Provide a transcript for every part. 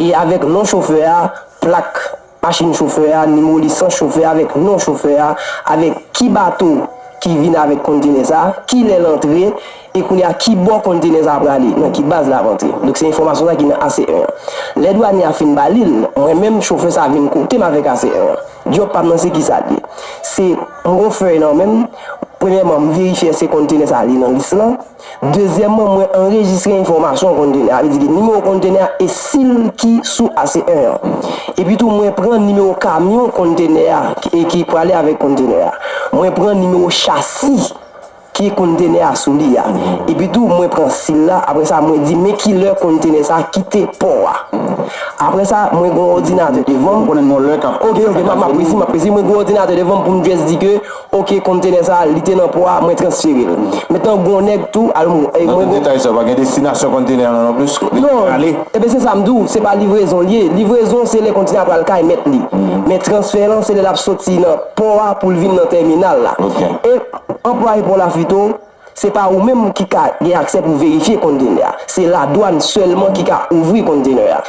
e avèk non chofè a, plak machin chofè a, nimewo lisans chofè a avèk non chofè a, avèk ki bato ki vin avèk kontenè sa, ki lè l antre, e kounye a ki bò kontenè sa prale, nan ki baz l ap antre. Donk se enfòmasyon sa ki nan AC 1 an. Lè dwanye a fin ba li l, mwen menm chofè sa vin kote m avèk AC 1 an. Djòb pa m nan se ki sa l ye? Se m gen yon fèy nan men m, premyèman m verifye èske kontenè sa li nan lis lan, Dezyèmman, mwen anrejistre enfòmasyon kontenè a, sa vle di ki nimewo kontenè a e sil ki sou AC1 an. Epitou mwen pran nimewo kamyon kontenè a e ki prale avèk kontenè a. Mwen pran nimewo chasi ke kontenè a sou li a. Epitou mwen pran sil la, apre sa mwen di men ki lè kontenè sa kite pò a. Apre sa, mwen gen yon òdinatè devan m. Mwen konnen yon lè kap kite Etazini. Ok, ok, map presi, map presi. Mwen gen yon òdinatè devan m pou m just di ke. Ok kontenè sa li te nan pò a mwen transferel mentnan gon nèg tou al mwen gen. Nan tout detay sa yo pa gen destinasyon kontenè an non plis kote li pral ale. Non ebyen se sa m di w se pa livrezon li ye livrezon se lè kontenè a pral kay mèt li men transfè lan se lè lap soti nan pò a pou l vin nan tèminal la e anplwaye pò la fito Se pa ou menm ki ka gen aksè pou verifye konntenè a. Se ladwann sèlman ki ka ouvri konntenè a.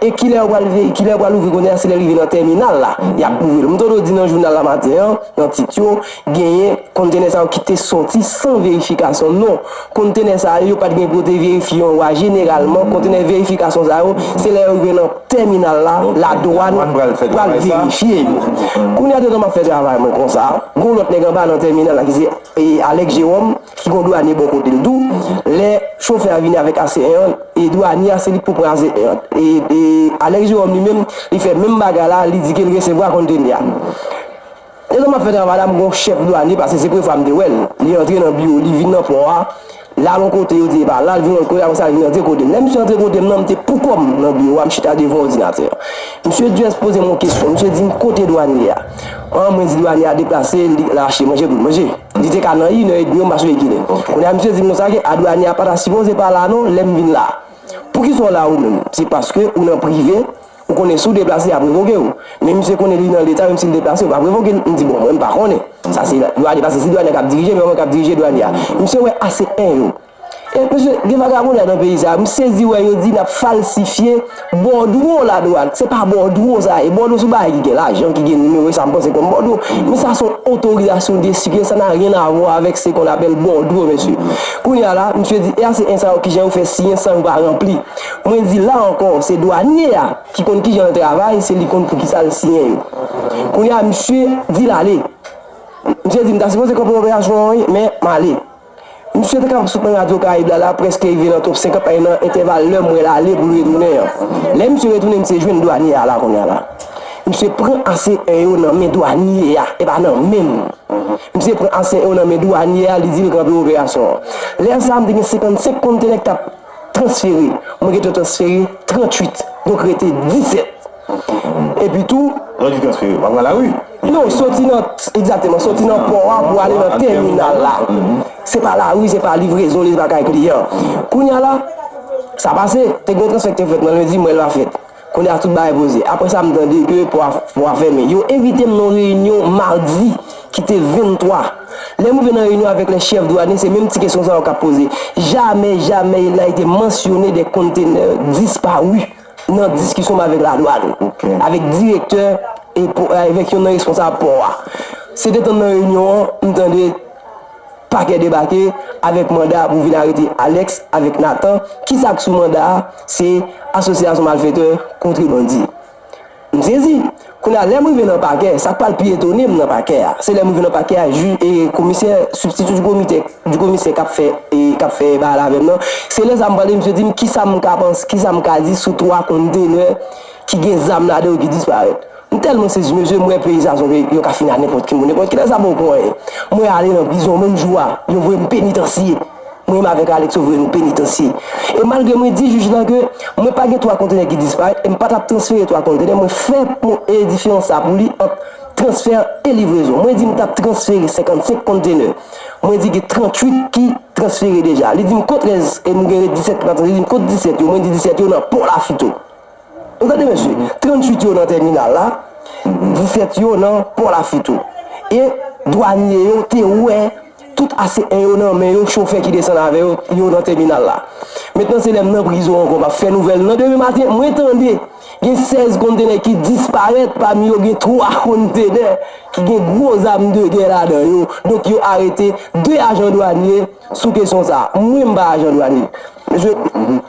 E kilè yo pral kilè yo pral ouvri konntenè a se lè l rive nan tèminal la y ap ouvri l. M te do di nan jounal la maten an nan tit yo genyen konntenè sa yo ki te soti san verifikasyon. Non, konntenè sa yo yo pa t gen pou yo te verifye yo a. Jeneralman konntenè verifikasyon sa yo se lè yo rive nan tèminal la ladwann pral verifye yo. Kounye a detan m ap fè travay mwen konsa gen yon lòt nèg anba nan tèminal la ki se. Alex Jerome ki gon dwanye bò kote l tou, lè chofè a vini avèk ACN an, e dwanye a se li k pou pran ACN an. E Alex Jerome li menm, li fè menm bagay la, li di ke l resevwa konteni a. Detan m ap fè travay la, m gen yon chèf dwanye, pase se premye fwa m te wè l, li antre nan biwo, li vin nan pò a, L al yon kote, yo di epa, l al vin yon lòt kote, apre sa l vin antre kote m. Lè misye antre kote m nan, m te poukò m nan biwo a, m chita devan òdinatè an. Misye just poze m yon kesyon, misye di m kote dwanye a? An, mwen di dwanye a deplase, li al achte manje pou l manje. Li te ka nan yn èdmi yo, m pa sove kilè. Kounye a misye di m konsa ke a dwanye a pa ta sipoze pa la non, lè m vin la. Poukisa w la ou menm? Se paske ou nan prive. Ou konnen si w deplase y ap revoke w. Men misye konnen li nan leta menm si l deplase yo pap revoke l. M di bon mwen m pa konnen. Sa se dwanye paske se dwanye an k ap dirije men yo menm k ap dirije dwanye a. Misye wè ase 1 yo. E mesye gen vagabondaj nan peyi sa. M sezi wè yo di n ap falsifye bòdwo la dwat. Se pa bòdwo sa ye. Bòdwo se yon bagay ki gen lajan ki gen nimewo e sa m panse kòm bòdwo. Men sa se yon otorizasyon de sikile sa na ryen avwa avèk se kon apèl bòdwo mesye. Kounye a la misye di e ase 1 sa yo kijan yo fè siyen san yo pa ranpli. Mwen di la ankò se dwanye a ki konn kijan l travay se li konn poukisa l siyen yo. Kounye a misye di l ale. Misye di m ta sipoze kanpe operasyon an wi men m ale. Misye te kapab sot nan radyo karayib la la prèske rive nan top 50 men nan entèval lè mwen l ale pou l retounen an. Lè misye retounen misye jwenn dwanye a la kounye a la. Misye pran ase 1 yo nan men dwanye a e pa nan men m. Misye pran ase 1 yo nan men dwanye a li di l kanpe operasyon an. Lè sa a m te gen 55 kontenè k t ap. transfere, mwen gentan transfere 38 donk rete 17 epi tou. Lè w di transfere, pa pran lari? Non, soti nan, egzateman, soti nan pò a pou ale nan tèminal la, se pa lari, se pa livrezon li, se pa kay kliyan. Kounya la, sa pase, te gen yon transfè ki te fèt nan lendi, m wè l pa fèt. Kounye a tout bagay poze. Apre sa m tande ke pò a fèmen. Yo envite m nan yon reyinyon madi ki te 23. Lè m rive nan reyinyon avèk lè chèf dwanye, se menm ti kesyon sa yo k ap poze. Jamè, jamè il na ete mansyone de kontenè disparu nan diskisyon m avèk ladwann, avèk direktè e avèk yon nan responsab pò a. Se detan m nan reyinyon an, m tande. Pakè debake avèk manda pou vin arete Alex avèk Nathan, kisa k sou manda a, se asosyasyon malfètè kontre bandi. M sezi, kounye a lè m rive nan pakè, sa k pral pi etone m nan pakè a, se lè m rive nan pakè a jij e komisè sibstitu di komitè di komisè k ap fè k ap fè pale avè m nan, se lè sa m pale misye di m kisa m ka panse, kisa m ka di sou 3 konntenè ki gen zam ladan yo ki disparèt. M tèlman sezi mesye m wè peyi sa sonje yo ka fini a nenpòt ki mo nenpòt kilè sa bon pou anyen mwen ale nan prizon menm jou a yo voye m penitansye mwen avèk Alex yo voye nou penitansye e malgre mwen di jij la ke mwen pa gen 3 kontenè ki disparèt e m pa tap transfere 3 kontenè mwen fè pon e diferans sa pou li ant transfè e livrezon mwen di m tap transfere 55 kontenè mwen di gen 38 ki transfere deja li di m kot rès e nou gen ret 17 ki pa transfere li di m kot 17 yo mwen di 17 yo nan pò lafito. Ou tande mesye, 38 yo nan tèminal la, 17 yo nan Pò Lafit ou. E dwanye yo te wè tout ase 1 yo nan men yo chofè ki desann avè yo, yo nan tèminal la. Mentnan se lè m nan prizon ankò m ap fè nouvèl nan demen maten mwen tande gen 16 kontenè ki disparèt pami yo gen 3 kontenè ki gen gwo zam de gè ladan yo. Donk yo arete 2 ajan dwanye sou kesyon sa. Mwen m pa ajan dwanye mesye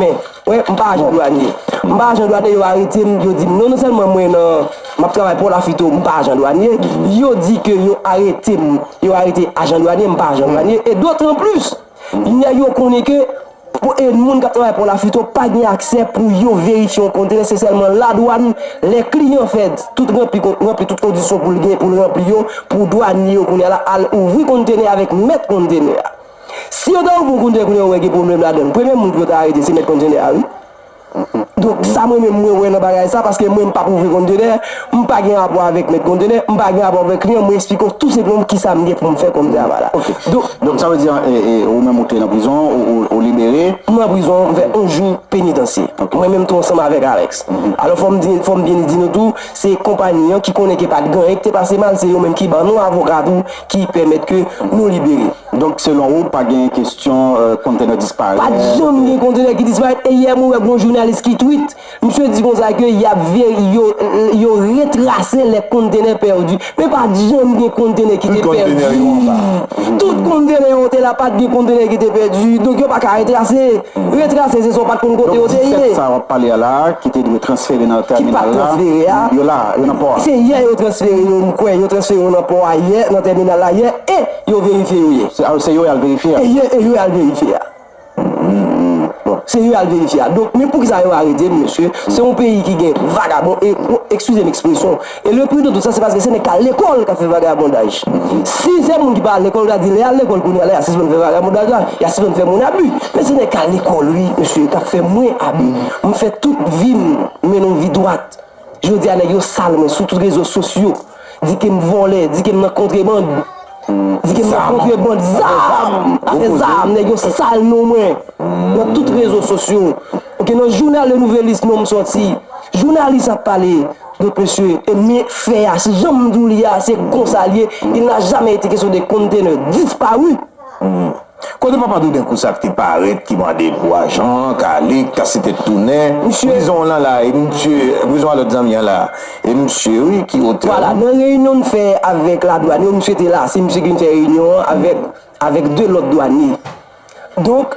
men. Wè m pa ajan dwanye m pa ajan dwanye yo arete m yo di m non non sèlman mwen nan m ap travay port lafito m pa ajan dwanye yo di ke yo arete m yo arete ajan dwanye m pa ajan dwanye e dotran plis nèg yo konnen ke pou e moun k ap travay port lafito pa gen aksè pou yo verifye yon kontènè se sèlman ladwann lè kliyan fè tout ranpli kon ranpli tout kondisyon pou l gen pou l ranpli yo pou dwanye yo kounye a la al ouvri kontenè avèk mèt kontenè a. Si yo ta ouvri yon kontenè kounye a yo wè gen pwoblèm ladann premye moun pou yo ta arete se mèt kontenè a wi donk sa mwen menm mwen wè nan bagay sa paske mwen m pap ouvri kontenè m pa gen rapò avèk mèt kontenè m pa gen rapò avèk kliyan mwen esplike w tou senpleman kisa m gen pou m fè kòm travay la donk sa vle di ou menm ou te nan prizon ou libere m nan prizon m fè 11 jou penitansye mwen menm tou ansanm avèk Alex alò fò m di fò m byen di nou tou se konpayi an ki konnen ke pat gen anyen ki te pase mal se yo menm ki ban nou avoka tou ki pèmèt ke nou libere. Donk selon ou pa gen kestyon kontenè disparèt? Pat janm gen kontenè ki disparèt e yè mwen wè gon jounalis ki tweet misye di konsa ke yap yo retrase lè kontenè pèdi men pat janm gen kontenè ki te pèdi tout kontenè yo te la pat gen kontenè ki te pèdi donk yo paka retrase. Retrase se sa w pa t konn kote yo te ye. Donk 17 sa w ap pale a la a ki te dwe transfere nan tèminal la, yo la, yo nan pò a. Se yè yo transfere yo, m kwè yo transfere yo nan pò a yè, nan tèminal la yè e yo verifye yo yè. Se yo y al verifye a? Yè e yo y al verifye a. Se yo y al verifye a. Donk men poukisa yo arete m mesye? Se yon peyi ki gen vagabon e, ekskize m ekspresyon. E le pri de tout sa se paske se nèg kal lekòl kap fè vagabondaj. Si se moun ki pa al lekòl kap di lè yal lekòl kounya la ya sispann fè vagabondaj la, ya sispann fè moun abi. Men se nèg kal lekòl wi mesye kap fè mwen abi. Mwen fè tout vim mennen yon vi dwat. Jodia nèg yo sal mwen sou tout rezo sosyo, di kem vòlè, di kem nan kontreband, di kem nan kontreband zam, afè zam nèg yo sal non mwen nan tout rezo sosyo. Ok nan jounal le nouvelis nonm sòti, jounalis ap pale, Get mesye enmi fè a se janm di w li a se konsa l ye il n'a jamais été question de conteneur disparu. Kote papa douden kousa k te parèt ki mande pou ajan kale k kase tèt tounen prizon w lan la e misye prizon a lòt zanmi an la e misye wi ki otè w. Vwala nan reyinyon n fè avèk la dwàn yo misye te la se misye ki vin fè reyinyon an avèk avèk 2 lòt dwanye. Donk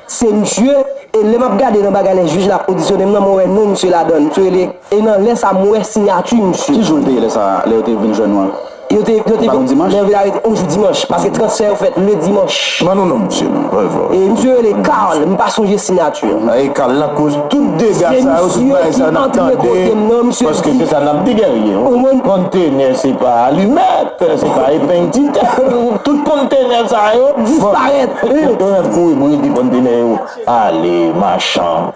se misye e lè map gade nan bagay lè jij la ap odisyonem nan mwen wè non misye ladann misye rele e nan lè sa mwen wè sinyati misye. Ki jou l te ye lè sa a, lè yo te vin jwenn nou an? Yo te yo te vin lè yo vin arete on jou dimanch paske transfè yo fèt le dimanch. Ban nou non misye non. E misye rele Carl m pa sonje sinyati an. E Carl la koz tout dega sa yo tout bagay sa yo nap tande paske se sa nap di Guerrier on kontenè se pa alimèt se pa epeng ti tè. Tout kontenè sa yo disparèt. Kontenè kouri bride kontenè yo ale machan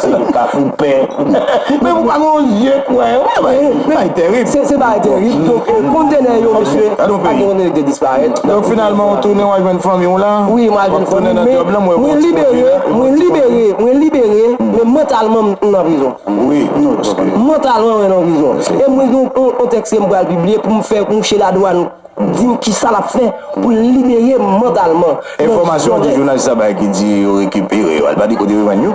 se pa pou pè. Men ou pa gen yon zye k wè yo. Se bagay tèrib. Se bagay tèrib. Donk kontenè yo mesye pa gen kontenè ki te disparèt. Donk finalman ou tounen wal jwenn fanmi w la? Wi mwen al jwenn fanmi m men mwen libere mwen libere mwen libere men mantalman m nan prizon. Wi mantalman mwen nan prizon. E mwen gen yon tèks ke m pral pibliye pou m fè mouche ladwàn. di n kisa lap fè pou l libere m mantalman. Enfòmasyon ki jounalis la bay ki di yo rekipere yo, li pa di kote yo jwenn yo.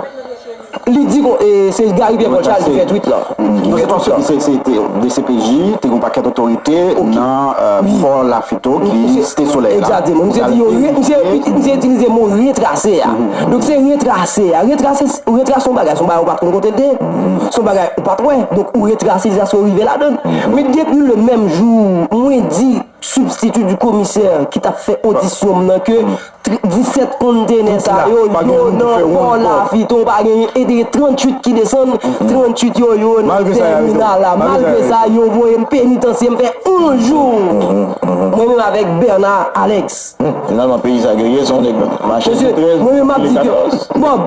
Li di kon se Gary Pierre Paul Charles ki fè twit lan. Mwen gen enfòmasyon ki se te dcpj, te gen yon pakèt otorite nan Fò Lafito ki Site Solèy la. Egzateman. Misye di yo re, misye misye itilize mo retrase a. Donk se retrase a. Retrase, retrase yon bagay, se yon bagay ou pa konn kote l te ye. son bagay ou pat wè donk ou retrase jas ou rive ladann men depi le menm jou mwen di sibstiti di komisè ki tap fè odisyon m nan ke 17 kontenè sa yo yo nan pò lavi ton pa gen e te gen 38 ki desann 38 yo yo nan tèminal la malgre sa yo voye m penitansye m fè 11 jou mwen menm avèk Bèna Alèks finalman peyi sa gerye son nèg mache 13 mwen menm map di ke Bob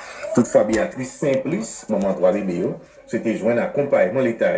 Toutfwa Beatrice Simplice, manman 3 bebe yo, swete jwenn akonpayman leta.